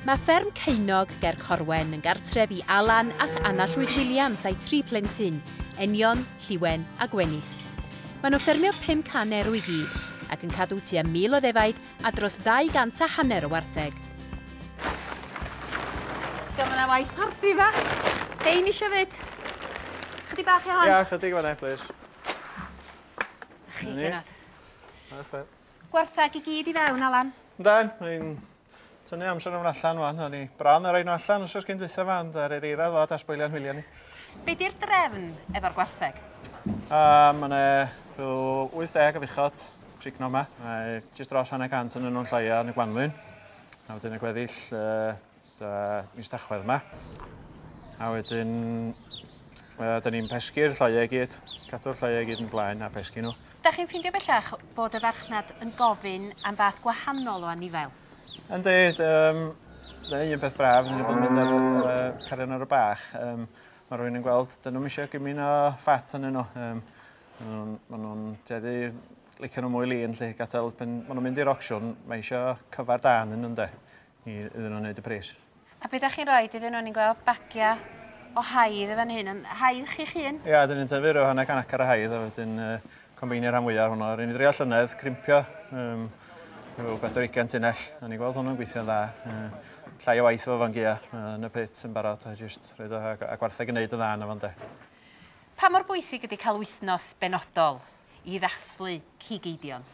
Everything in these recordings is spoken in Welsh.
Mae fferm Ceunnog ger Corwen yn gartref i Alan ac Anna Llwyd Williams a'i tri phlentyn, Enion, Lliwen a Gwenith. Maen nhw'n ffermio 500 erw i gyd ac yn cadw tua 1,000 o ddefaid a dros ddau gant a hanner o wartheg. Diolch mae yna waith parthi yma. Hein eisiau fyd. Chydig bach i hon. Ia, chydig fanna, plis. Chi, Genod. That's it. Gwartheg i gyd i fewn, Alan. Yndan, ni'n tynnu amser nhw'n allan wan. O'n i bron ar rhaid nhw allan os oes gen dwytha fa, ond ar yr eira ddod a sboilio'n hwyliau ni. Be di'r drefn efo'r gwartheg? Um, Mae'n rhyw 80 o fuchod trigno yma. Mae jyst dros hanner cant yn nhw'n llaia yn y gwanwyn. A wedyn y gweddill uh, Da, mis Tachwedd yma. A wedyn, uh, da ni'n pesgu'r lloiau i gyd, cadw'r lloiau i gyd yn blaen a pesgu nhw. Da chi'n ffeindio bellach bod y farchnad yn gofyn am fath gwahanol o anifail? Yndi, um, da ni un peth braf, da ni'n bod yn mynd ar uh, carion ar y bach. Um, mae rhywun yn gweld, dyn nhw'n eisiau gymryd o ffat yn nhw. Um, Maen nhw'n teddu licio nhw mwy lun, lle gadael, pan maen nhw'n mynd i'r ocsiwn, mae eisiau cyfar dan yn nhw'n de. i iddyn nhw wneud y pris. A be da chi'n roed iddyn nhw? Ni'n gweld bagiau o haidd yn fan hyn, yn haidd chi'ch hun? Ia, dyn ni'n tyfu rhyw hanner can acar o haidd a wedyn uh, combeinio rhan fwyaf hwnnw. Rydyn ni'n dreol llynedd, crimpio um, rhyw 40 tunnell, a ni'n gweld hwnnw'n gweithio'n dda. Uh, llai o waith fo fan gia uh, yn y pit yn barod, a jyst rhaid o, a gwartheg yn neud yn dda yn y fan de. Pa mor bwysig ydy cael wythnos benodol i ddathlu cig eidion?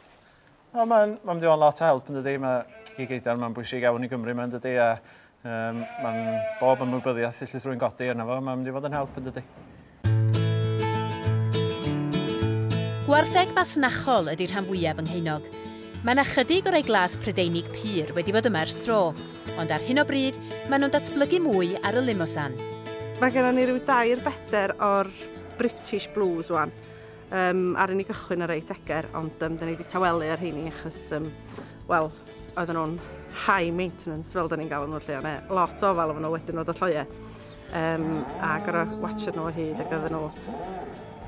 O mae'n mae'n mynd i fod yn lot o help yn dydy mae cici geidar mae'n bwysig iawn i Gymru mae'n dydy a um, mae'n bob ymwybyddiaeth lle rwy'n godi yna fo mae'n mynd i fod yn help yn dydy. Gwartheg masnachol ydy rhan fwyaf yng Ngheiniog. Mae yna chydig o rai glas Prydeinig pur wedi bod yma ers tro, ond ar hyn o bryd maen nhw'n datblygu mwy ar y Limosan. Mae gennym ni rhyw dair beder o'r British Blues wan. Um, ar ni gychwyn ar reit eger, ond um, dyn ni wedi tawelu ar heini achos, um, wel, oedden nhw'n high maintenance fel dyn ni'n galw nhw lle, ond e, lot o ofal oedden nhw wedyn nhw ddolloiau. Um, a gorau watcher nhw o hyd ac oedden nhw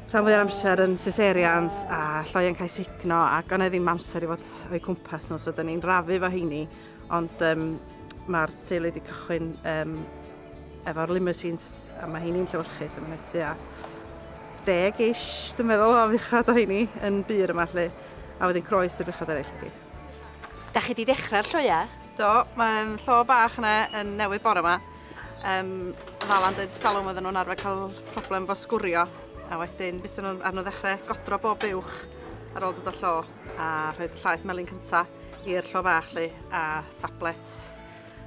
rhan fwy amser yn cesareans a lloiau'n cael signo ac ond e ddim amser i fod o'i cwmpas nhw, so dyn ni'n rafu fo heini Ond um, mae'r teulu wedi cychwyn um, efo'r limousines a mae hynny'n llywyrchus a mae'n tua deg ish, dwi'n meddwl, o fuchad o hynny yn bur yma lle, a wedyn croes y buchad eraill i gyd. Da chi di ddechrau'r lloia? Do, mae'n llo bach yna yn newydd bore yma. Um, Falan dweud stalwm oedden nhw'n arfer cael problem fo sgwrio, a wedyn bys nhw'n arno ddechrau godro bob uwch ar ôl dod o llo. A rhoi llaeth melyn cynta i'r llo fach lli a tablet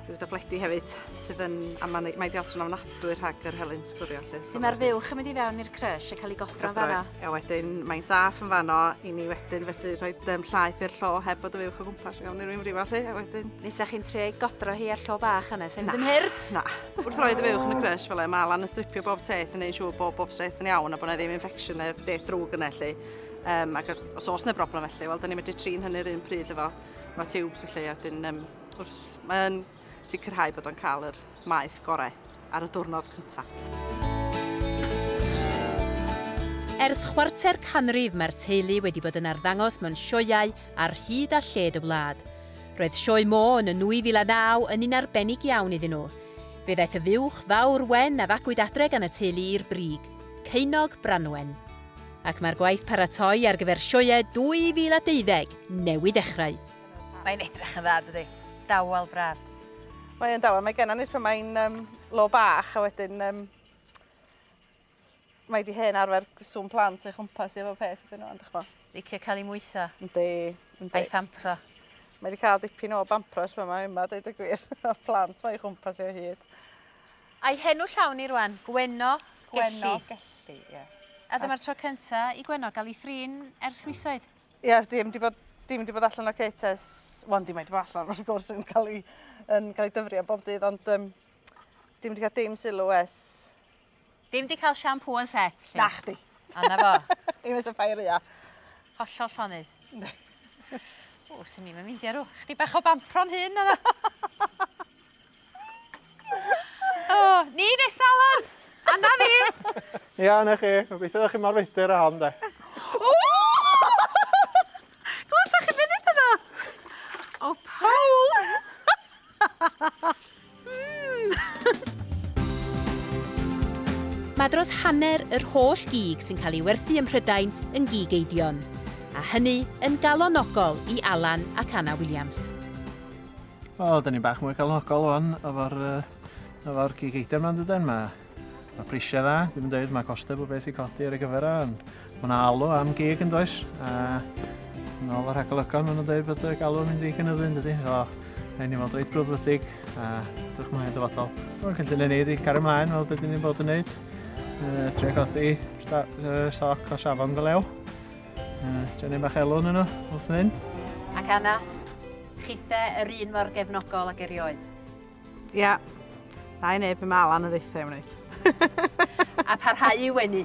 rhyw dabledi hefyd sydd yn a mae'n mae di allan o'n adwy rhag yr helyn sgwrio lli. Dim ar fuwch yn mynd i fewn i'r crush a cael ei godro yn fanno. A wedyn mae'n saff yn fanno i ni wedyn fedru rhoi um, llaeth i'r llo heb bod y fuwch o gwmpas iawn i'r un frifo lli a wedyn... Nesa chi'n tre godro hi ar llo bach yna, sef ddim hurt? Na. Wrth roi dy fuwch yn y crush fel e, mae Alan yn stripio bob teth yn ei siŵr bob bob teth yn iawn a bod yna ddim infection neu beth ddrwg yna lli. Um, ac os oes yna broblem felly, wel, da ni'n medru trin hynny'r un pryd efo, efo tiwbs felly, a dyn, um, wrth, mae'n sicrhau bod o'n cael yr maeth gorau ar y diwrnod cyntaf. Ers chwarter canrif mae'r teulu wedi bod yn arddangos mewn sioeau ar hyd a lled y wlad. Roedd sioe Mo yn y 2009 yn un arbennig iawn iddyn nhw. Fe ddaeth y fuwch fawr wen a fagwyd adre gan y teulu i'r brig, Ceinog Branwen. ac mae'r gwaith paratoi ar gyfer sioeau 2020 newydd ddechrau. Mae'n edrych yn dda, dydy? Dawel braf. Mae yn dawel. Mae genna nis pan mae'n um, lo bach a wedyn um, mae di hen arfer sŵn plant ei chwmpas i efo peth ydyn nhw, ond chmo. Licio cael ei mwytho. Yndi, yndi. A'i thampro. Mae wedi cael dipyn o bampro ysma yma, yma, dweud y gwir, o plant mae ei chwmpas i o hyd. A'i henw llawn hi rwan, Gwenno Gelli. Gwenno Gelli, ie. A dyma'r tro cynta i Gwenno gael ei thrin ers misoedd. Ie, di ddim di bod di ddim di bod allan o cit ers... Wel, di mae di bod allan, wrth gwrs, yn cael ei, yn cael ei dyfrio bob dydd, ond um, di ddim di cael dim sylw es... Dim di cael siampŵ yn set, lle? Nach di. Anna fo. Dim es y ffair ia. Hollol llonydd. o, sy'n ni'n mynd i arw. Chdi bach o bampron hyn, anna. O, ni neu Salar! Anna fi! Ia, na chi. Gobeithio ddech chi mor feidir a hon, de. Glwsa chi funud yna? O, pawb! Mae dros hanner yr holl gig sy'n cael ei werthu ym Mhrydain yn gig Eidion, a hynny yn galonogol i Alan ac Anna Williams. O, da ni'n bach mwy galonogol o'n efo'r efo gig eitem yma'n dydyn. Mae, ma prisiau dda, ddim yn dweud mae costau bod beth i codi ar ei gyfer o, ond mae yna alw am gig yn does. A yn ôl yr hagolygon, maen nhw'n dweud bod y galw yn mynd i gynyddu yn dydy. So, rhaid ni fod reit brwdfrydig a dych chi'n hynny'n dyfodol. Mae'n cynllun ni wedi cario ymlaen fel beth ni'n bod yn neud. Uh, tre codi uh, soc o safon go lew. Uh, Dyna bach elw yn yno, wrth fynd. Ac Anna, Chithe yr un mor gefnogol ag erioed. Ia, na i neb yn ma lan y ddeitha i wneud. A parhau i wenu.